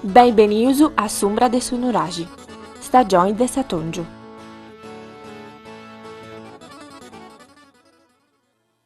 Benvenius a s'umbra de su nuraxi, stagioni de s'atòngiu.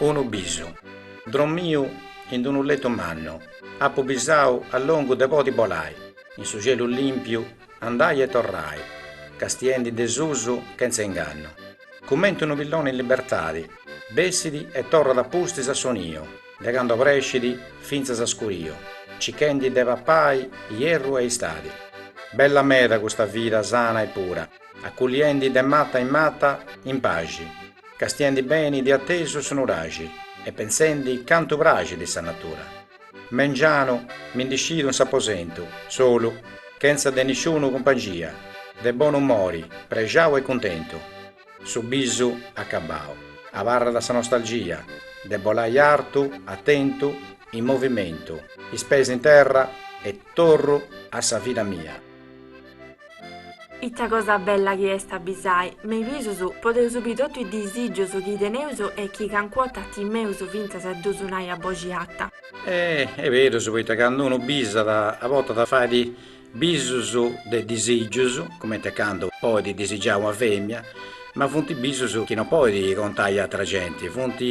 Unu bisu. Drommiu in d-unu letu mannu, apu bisau a longu de podi bolai in su cielu limpiu andai e torrai, castiendi de susu chentza ingannu. Cumenti unu pilloni in libertadi, bessit e torrat a pustis a su niu de candu obrescit fintzas a scuriu, cichendi de papai ierru e istadi. Bella meda custa vida sana e pura. Aculiendi de mata in mata in paxi, castiendi beni di atesu su nuraxi e pensendi cantu praxit sa natura. Mengianu mi ndi scidu in s'aposentu, solu, chentza de nisciunu cumpangia, de bonu umori, prexau e cuntentu. Su bisu acabau, abarrat sa nostalgia de bolai artu, atentu, in movimentu, is pes in terra e torru a sa vida mia. Ita cosa bella chi est a bisai, me is bisus, podeus bì totu is disìgius chi teneus e chi cancu 'orta timeus fintzas a ddus nai a boxi arta. E est berus, poita candu unu bisat, a bortas fait bisus de disìgius, cumenti a candu podit disigiai una femina, ma funt bisus chi no podit contai a atra genti, funt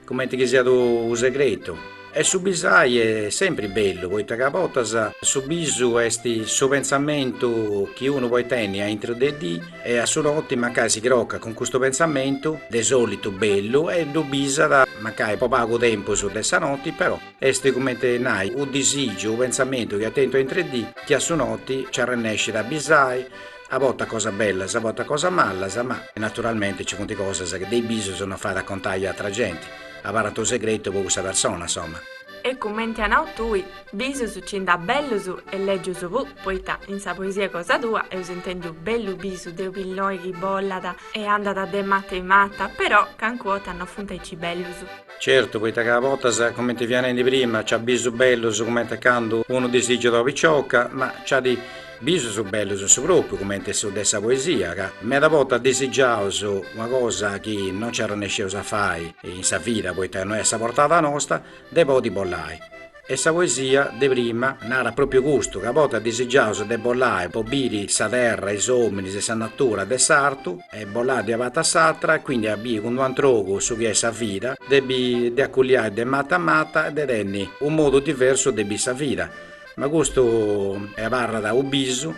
Cumenti chi siat unu segretu. E su bisai est sempri bellu poita ca a bortas su bisu est su pentzamentu chi unu podit tenni a intro de dì e a su noti mancai si crocat cun custu pentzamentu de solitu bellu e ddu bisat mancai po pagu tempus de sa noti però est cumenti nai u' disìgiu u' pentzamentu chi at tentu a intr'e dì chi a su noti nci arrennescit a bisai A bortas cosas bellas, a bortas cosas malas, ma naturalmente ci funt cosas chi de is bisus no fait a contai a atra genti, abarrant unu segretu po cussa persona, insoma. E cumenti as nau tui, bisus ci nd'at bellus e lègius puru, poita in sa poesia cosa tua eus intendiu bellu bisu de u' pilloni chi bollat e andat de mata in mata, però cancu 'orta no funt aici bellus. Certu, poita ca a bortas, cumenti fia nendi prima, nc'at bisu bellus cumenti a candu unu disìgiat una picioca, ma nc'at bisus bellus in su propriu, cumenti su de sa poesia, ca meda bortas disigiaus una cosa chi no nci arrennesceus a fai in sa vida, poita no est sa portada nosta, de podi bollai. E sa poesia de prima narat pròpiu custu, ca a bortas disigiaus de bolai po biri sa terra, is òminis e sa natura de s'artu, e bolai de una parti a s'atra e quindi a biri cun d'un'antru ogu su chi est sa vida, de aculiai de mata a mata e de tenni unu modu diversu de biri sa vida. Ma custu abarrat u' bisu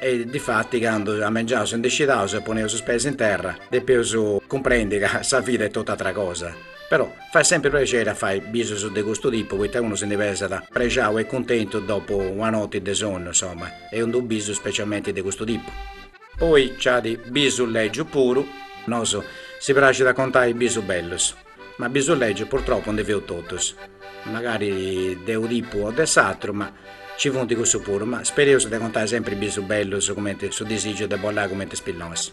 e difatti candu a mengianu s'ndi scidaus e poneus is peis in terra depeus cumprendi ca sa vida est tot'atra cosa. Però fait semper prexeri a fai bisus de custu tipu poita unu si ndi pesat prexau e cuntentu dopu una noti de sonnu insoma e unu bisu specialmenti de custu tipu. Poi ci at bisu legiu puru. Nos si praxit a contai bisu bellus, ma bisu legiu purtropu ndi feus totus, magari de unu tipu o de s'atru, ma ci funt cussu puru, ma spereus de contai sempri bisu bellus cumenti su disigiu de bolai cumenti is pillonis.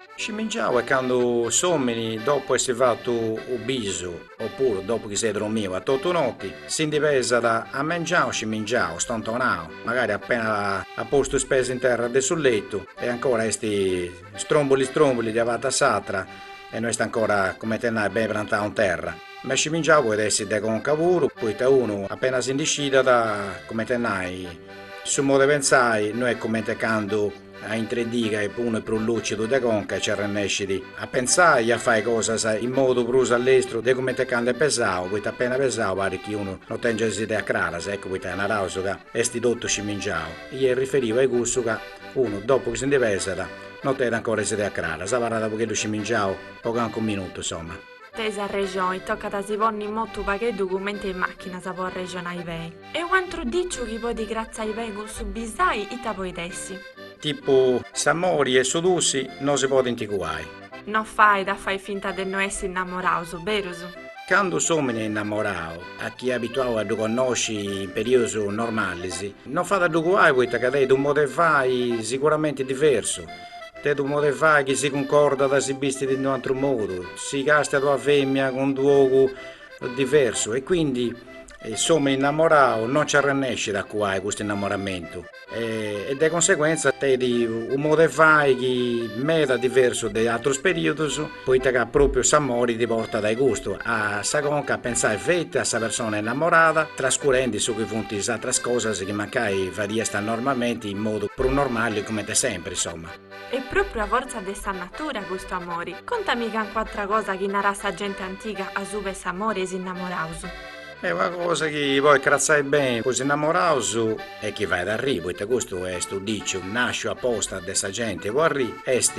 Scimingiau est candu s'omini dopu essi fatu u bisu o puru dopu chi s'est dromiu a totu noti si ndi pesat a mengianu scimingiau stontonau magari appena at postu is pes in terra de su lettu e ancora esti strombuli strombuli de una parti a s'atra e no est ancora cumenti a nai beni prantau in terra ma scimingiau podit essi de conca puru poita unu appena si ndi scidat cumenti a nai su modu e pentzai no est cumenti a candu A intre dì ca unu est prus lùcidu de conca nci arrennescit a pentzai e a fai cosas in modu prus allestru de cumenti 'e candu est pesau, poita appena pesau parit chi unu no tengiat is ideas craras, eccu poita naraus ca est totu scimingiau, est riferiu a cussu ca unu, dopu chi si ndi pesat, no tenit ancora is ideas craras, abarrat a pogheddu scimingiau po cancu minutu, insoma. e sa rexoni tocat a si ponni in motu pagheddu cumenti is machinas po arrexonai beni. E u antru diciu chi podit cratzai beni cun su bisai ita podit essi. Tipu s'amori e su tussi no si podint cuai. No fait a fai finta de no essi innamoraus, berus? Candu s'omini est innamorau, a chi est abituau a ddu connosci in periodus normalis, no fait a ddu cuai poita ca tenit u modu 'e fai siguramenti diversu. Tenit u' mod'e fai chi si cuncordat si bistit in d'u'antru modu, si castiat ua femina cun d'un'ogu diversu e quindi s'omini innamorau non nci arrennescit a cuai custu innamoramentu e de conseguenza tenit u' mod'e fai chi est meda diversu de atrus periodus poita ca pròpiu s'amori ti portat a custu, a sa conca, a pentzai feti a sa persona innamorada, trascurendi su chi funt is atras cosas chi mancai fadiasta normalmenti in modu prus normali cumenti sempri, insoma. Est pròpriu u' fortza de sa natura custu amori. Contami cancu atra cosa chi narat sa genti antiga asuba 'e s'amori e is innamoraus. E una cosa chi podit cratzai beni po is innamoraus e chi fait arriri, poita custu est u' diciu nàsciu aposta de sa genti po arriri, est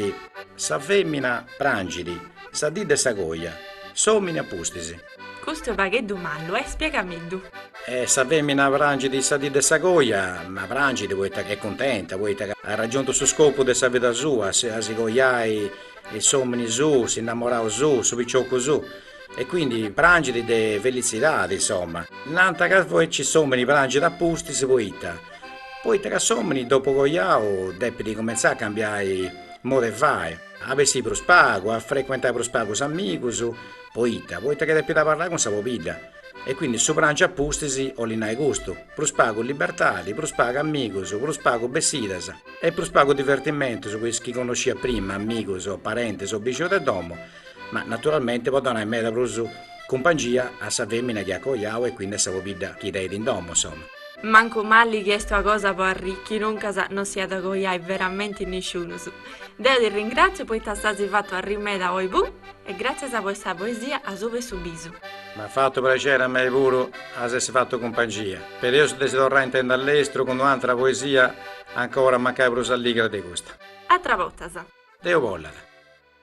Sa fèmina prangit sa dì de sa coja, s'òmini a pustis. Custu fueddu mannu est spiegameddu. E sa fèmina prangit sa dì de sa coja, ma prangit poita ca est cuntenta, poita ca at ragiuntu su scopu de sa vida sua, a si cojai s'òmini suu, s'innammorau suu, su picioccu suu. E quindi prangit de felitzidade insomma. Nant ca invecis s'omini prangit a pustis poita poita ca s'omini dopu coiau depit cumentzai a cambiai modu 'e fai, a bessi prus pagu, a frecuentai prus pagu is amigus, poita poita ca depit abarrai cun sa pobidda e quindi su prangi a pustis 'olit nai custu, prus pagu libertadi, prus pagu amigus, prus pagu bessidas e prus pagu divertimentus po is chi connosciat prima amigus o parentis o bixinus de domo ma naturalmente po donai meda prus cumpangia a sa femina chi at coiau e quindi a sa pobidda chi tenit in domo, insomma. Mancu mali chi est una cosa po arriri, chi nuncas no si at a coiai veramente nisciunus. Deu ti ringratziu poita s'as fatu arri meda oi bu e gratzias po cussa poesia a su pessu bisu. M'at fatu prexeri a mei puru a s'essi fatu cumpangia, però eus de si torrai a intendi a lestru cun un'atera poesia ancora mancai prus alligra de custa. Atras bortas. Deus bollat.